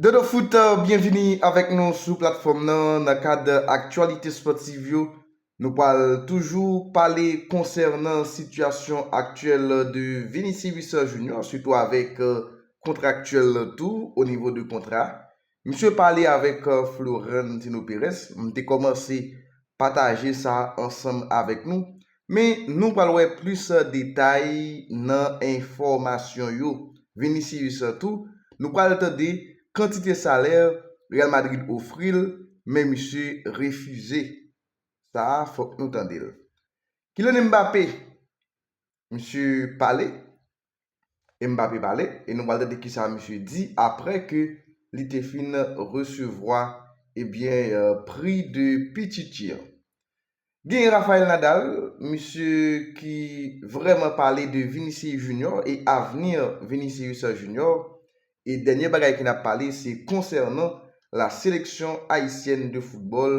Dodo Foot, byenvini avèk nou sou platfòm nan. Nan kad aktyalite spòtiv yo, nou pral toujou pale konsènan sitiyasyon aktyèl de Vinicius Junior, sitou avèk kontra aktyèl l tou, o nivo de kontra. Misye pale avèk Florentino Perez. M te kòmanse Pataje sa ansanm avèk nou, men nou pral wè plis detay nan enfòmasyon yo. Vinicius tou, nou pral tande kantite salè Real Madrid ofri l, men misye refize. Sa a fòk nou tande l. Kylian Mbappé, misye pale, e Mbappé pale e nou pral tande kisa misye di aprè ke li te fin resevwa ebyen pri de Pichichi an. Genyen Rafael Nadal, misye ki vrèman pale de Vinicius Junior e avni Vinicius Junior E dènye bagay ki nap pale se konsènan la seleksyon ayisyèn de foutbòl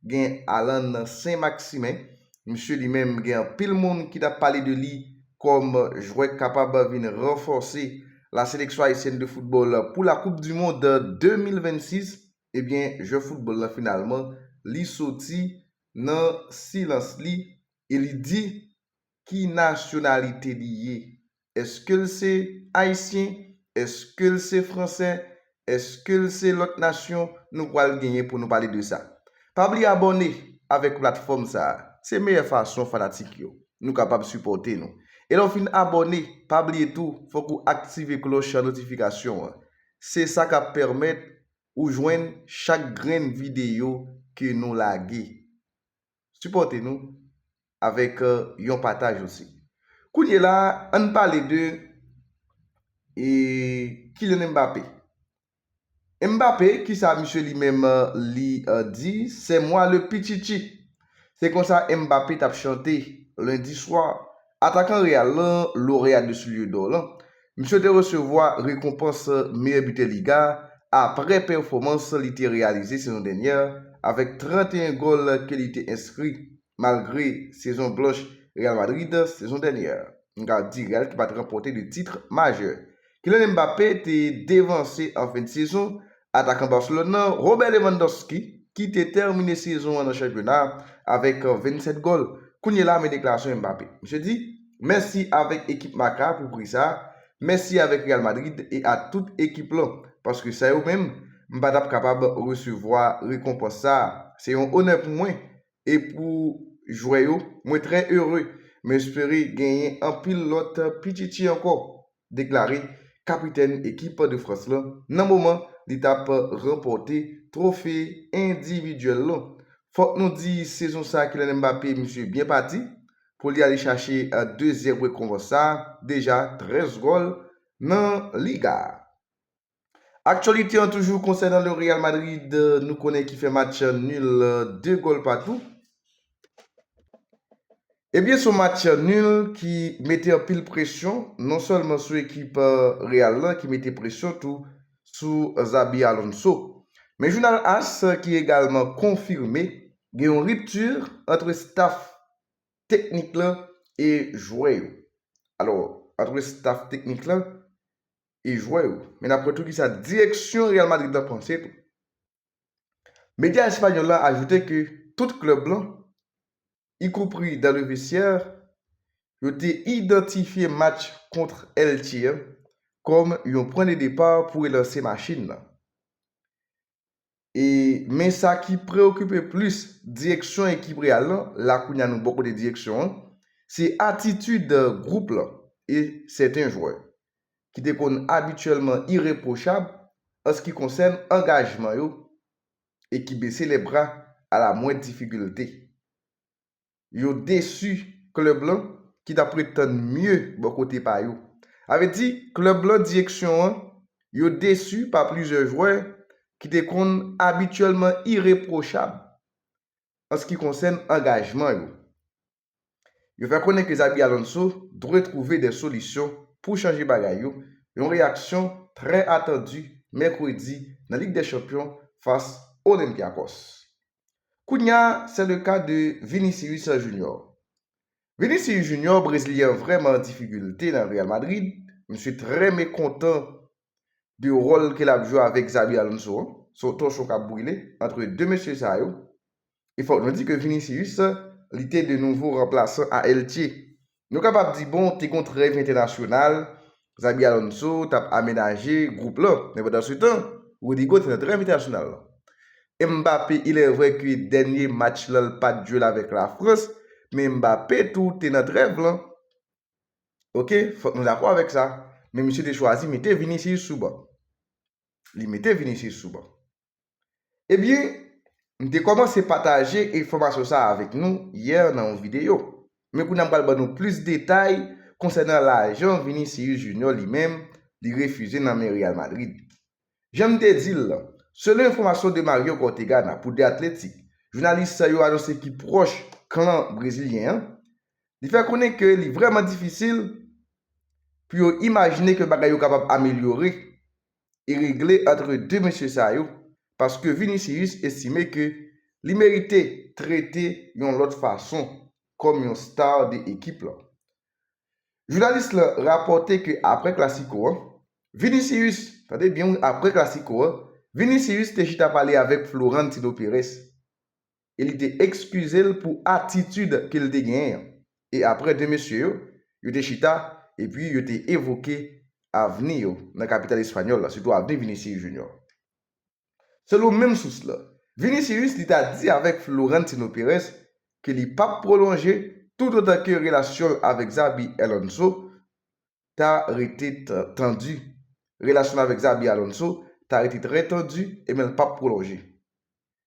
gen Alan Saint Maximin misye li menm gen anpil moun ki tap pale de li kòm jwè k kapab vin ranfòse la seleksyon ayisyèn de foutbòl pou la koup du mond 2026 ebyen jwè foutbòl lan finalman li soti nan silans li e li di. Ki nasyonalite li ye? Eske l se Ayisyen? Eske l se Fransè? Eske l se lòt nasyon? Nou pral genyen pou nou pale de sa. Pa bliye abòne avèk platfòm sa a. Se meyè fason fanatik yo nou kapab sipòte nou. E lè w fin abòne, pa bliye tou fòk ou aktive klòch notifikasyon an. Se sa kap pèmèt ou jwenn chak grenn videyo ke nou lage. Sipòte nou avèk yon pataj osi. Kounye la a, ann pale de Kylian Mbappé. Mbappé, kisa misye li menm li di, c'est moi le pichichi. Se konsa Mbappé t ap chante Lundi soir. Atakan Real lan, loreya 2 soulye dò lan, misye te resevwa rekonpans meyè bitè Liga a aprè pèfòmans li te reyalize sezon dènyè a avèk 31 gòl ke li te enskri malgre sezon blanch Real Madrid sezon dènyè. N ka di Real ki pa t ranpòte de titre majè Kylian Mbappé te devanse an fen de sezon atakan Barcelone nan, Robert Lewandowski, ki te tèmine sezon an nan chanpyona a avèk 27 gòl. Kounye la men deklarasyon Mbappé. Misye di, Mèsi avèk ekip Marca pou pri sa a, mèsi avèk Real Madrid e a tout ekip lan, paske san yo menm, m pa t ap kapab resevwa rekonpans sa a. Se yon onè pou mwen e pou jwè yo. Mwen trè ere. M espere genyen anpil lòt pititi ankò. deklare kapitèn ekip de Frans lan nan moman li tap ranpòte twofe endividyèl lan. Fòk nou di sezon sa Kylian Mbappé misye byen pati pou li ale chache dezyèm rekonvans sa, deja 13 gòl nan liga a. Aktyolite an toujou konsènan le Real Madrid nou konnen ki fè match nul 2 gòl patou. Ebyen son match nul ki mete anpil presyon non sèlman sou ekip Real lan ki mete presyon tou sou Xabi Alonso. Men jounal as ki egalman konfime gen yon rupture antre staff teknik lan e jwè yo. Alò antre staff teknik lan e jwè yo. Men n ap wè tou kisa direksyon Real Madrid la panse tou. Medya espanyòl la ajoute ke tout klèb lan, ikonpri dans le vestiaire, yo te idantifye match kontr Elche an kòm yon pwen de depar pou relanse machin lan. E men sa ki preokipe plis direksyon ekip Real lan, la kounye a nou bò kote direksyon an, se atitid gwoup lan e sèten jwè, ki te konn abityèlman irepwochab anski konsèn angajman yo e ki bese lèbra a la mwendr difikilte. yo desu klub lan ki tap ret tann mye bò kote pa yo. Sa vle di klub lan direksyon an yo desu pa plizyè jwè ki te konn abityèlman ireprochab an ski konsèn angajman yo. Yo fè konnen ke Xabi Alonso dwe trouve de solisyon pou chanje bagay yo, yon reyaksyon trè atandu Mèkredi nan Lig dè Chanpyon fas Olympiakos. Kounya se le ka de Vinicius Junior. Vinicius Junior brezilyen an vrèman an difigilte nan Real Madrid, misye trè mekontan de ròl ke lap jwe avèk Xabi Alonso an, se yon tòchon kap brile antre 2 mesye sa yo, e fòk nou di ke Vinicius li te de nouvo ranplasan a Elche Nou kapab di bon te gon trèv entènasyonal, Xabi Alonso t ap amenaje gwoup lan, men pandan se tan, Rodrygo te nan trèv entènasyonal lan. Mbappé ilèvrè ke dènye match lan l pa t jwe l avèk Lafrans, men Mbappé tou te nan trèv lan. Ok, fòk nou dakò avèk sa. Men misye te chwazi mete Vinicius sou ban. Li mete Vinicius sou ban. Ebyen, m te kòmanse pataje enfòmasyon sa a avèk nou yè nan yon videyo. Men kounye a m pral ban nou plis detay konsènan lajan Vinicius Junior li menm li refize nan men Real Madrid. Jan m te di l lan, selon enfòmasyon de Mario Cortegana pou The Athletic, jounalis sa yo anonse ki pwòch klan brezilyen an, li fè konnen ke li vrèman difisil pou yo imajine ke bagay yo kapab amelyore e regle antre 2 mesye sa yo paske Vinicius estime ke li merite trete yon lòt fason kòm yon star de ekip lan. Jounalis lan rapòte ke apre klasiko an, Vinicius, tande byen wi apre klasiko an, Vinicius te chita pale avèk Florentino Perez. e li te ekskize l pou atitid ke l te genyen an. E apre 2 mesye yo, yo te chita epi yo te evoke avni yo nan kapital espanyòl la, sitou avni Vinicius Junior. Selon menm sous la, Vinicius li ta di avèk Florentino Perez ke li pa p pwolonje toutotan ke relasyon l avèk Xabi Alonso ta rete tandi. Relasyon l avèk Xabi Alonso ta rete trè tandi e men l pa p pwolonje.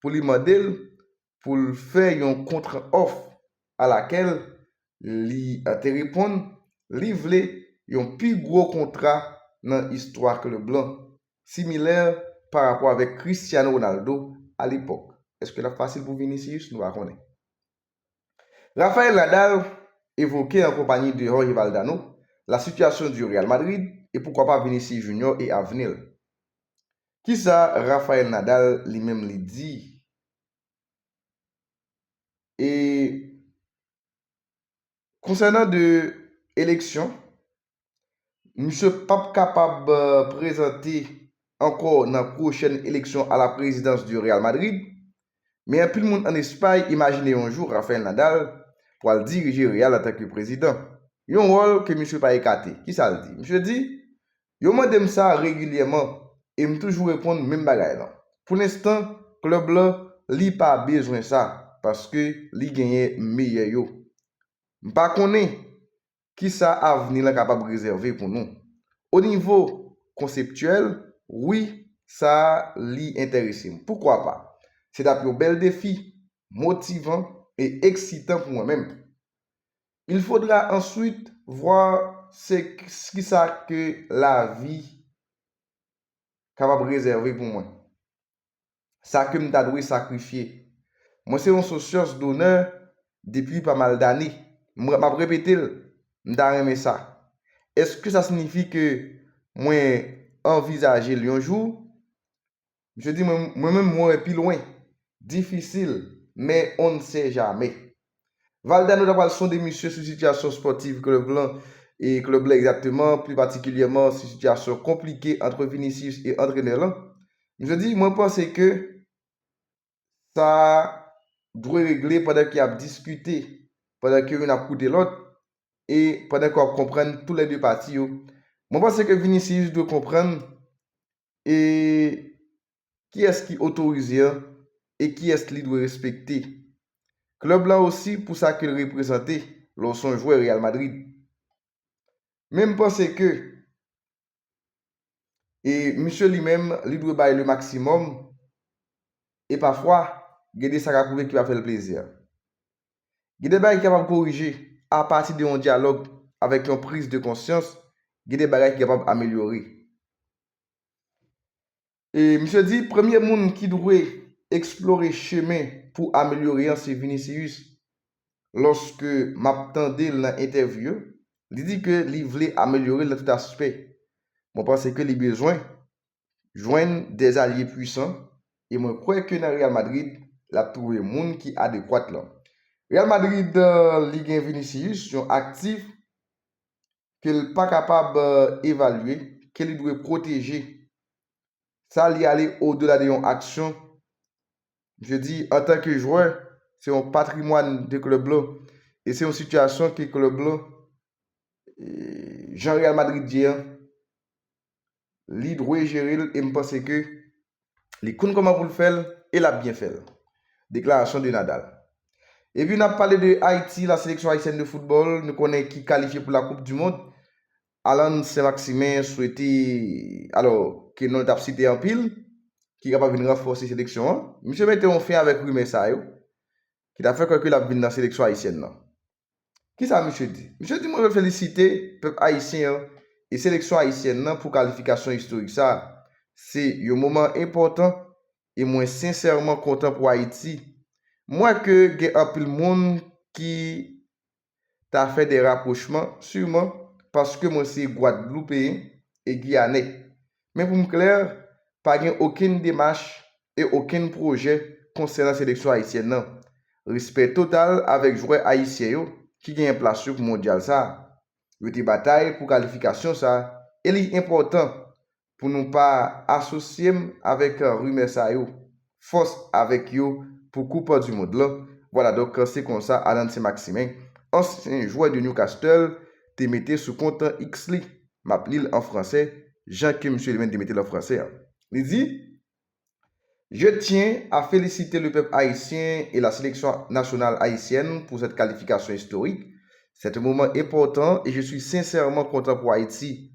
pou li mande l pou l fè yon kontra òf alakèl li te reponn li vle yon pi gwo kontra nan istwa klèb lan, similè pa rapò avèk Cristiano Ronaldo alepòk. Èske l ap fasil pou Vinicius? Nou pa konnen. Rafael Nadal evoke an konpayi de Jorge Valdano la situation du Real Madrid e poukwa pa Vinicius Junior e avni l. Kisa Rafael Nadal li menm li di e. Konsènan de eleksyon, misye pap kapab prezante ankò nan pwochèn eleksyon a la prezidans de Real Madrid, men anpil moun an Espay imajine yon jou Rafael Nadal pwal dirije Real antanke prezidan. Yon wòl ke misye pa ekate. Kisa l di? Misye di, Yo mande m sa regilyèman e m toujou reponn menm bagay lan. Pou lenstan, klèb la, li pa bezwen sa paske li genyen meyè yo. M pa konnen ki sa avni lan kapab rezève pou nou. O nivo konseptyèl, wi, sa li enterese m. Poukwa pa? Se t ap yon bèl defi, motivan e eksitan pou mwen menm. Il faudra ensuite voir se kisa ke la vie kapab rezève pou mwen. Sa ke m ta dwe sakrifye. Mwen se yon socios d'honneur depi pa mal dane. M m ap repete l, m ta renmen sa. Eske sa signifi ke mwen anvizaje l yon jou? Misye di mwen mwen menm mwen wè pi lwen. Difisil, men on n se jamè. Valdano ta pral sonde misye sou sitiyasyon spòtiv klèb lan e klèb la egzakteman, pli patikilyèman sou sitiyasyon konplike antre Vinicius e antrenè lan. Misye di mwen panse ke sa dwe regle pandan ke y ap diskite, pandan ke youn ap koute lòt e pandan ke w ap konprann tou lè de pati yo. Mwen panse ke Vinicius dwe konprann E kiyès ki otorize an e kiyès li dwe respekte? Club lan osi pou sa ke l reprezante lè w son jwè Real Madrid. Men m panse ke e misye li menm li dwe bay le maximum e pafwa gen de sa ka k rive ki pa fè l plezi. Gen de bagay ki kapab korije apati de yon dyalòg avèk yon priz de konsyans, gen de bagay ki kapab amelyore. E misye di premye moun ki dwe eksplore chemen pou amelyore an se Vinicius. Lòske m ap tande l nan entèvyou yo, li di ke li vle amelyore l nan tout aspè. Mwen panse ke li bezwen jwenn 2 zalye pwisan e mwen kwè ke nan Real Madrid lap twouve moun ki adekwat lan. Real Madrid li gen Vinicius yon aktif ke l pa kapab evalye, ke li dwe pwoteje. Sa li ale o dela de yon aksyon. Misye di antan ke jwè se yon patrimwàn de klèb lan e se yon sitiyasyon ke klèb lan jan Real Madrid ye an li dwe jere l e m panse ke li konn kòman pou l fè l e l ap byen fè l. Deklarasyon de Nadal. Epi n ap pale de Ayiti, la seleksyon ayisyèn de foutbòl nou konnen ki kalifye pou la koup du mond. Alan Sen Maksimen swete alò ke non l t ap site anpil ki kapab vin ranfòse seleksyon an. Misye mete yon fen avèk rimè sa yo ki ta fè kwè ke l ap vin nan seleksyon ayisyèn nan. Ki sa misye di? Misye di mwen vle felisite pèp ayisyen an e seleksyon ayisyèn nan pou kalifikasyon istorik sa a. Se yon moman enpòtan e mwen sensèman kontan pou Ayiti. M wè ke gen anpil moun ki ta fè de rapwochman, siman paske mwen se gwadloupeyen e giyanè. Men pou m klè, pa gen okenn demach e okenn pwojè konsènan seleksyon ayisyèn nan. Respè total avèk jwè ayisyen yo ki genyen plas yo pou mondyal sa. Yo te batay pou kalifikasyon sa e li enpòtan pou nou pa asosye m avèk rimè sa yo. fòs avèk yo pou koup du mond lan, vwala donk se konsa Alan Saint-Maximin, ansyen jwè de Newcastle te mete sou kont X li, map li l an fransè jan ke msye li menm te mete l an fransè an, li di, Je tiens à féliciter le peuple haïtien et la sélection nationale haïtienne pour cette qualification historique. C'est un moment important et je suis sincèrement content pour Haïti,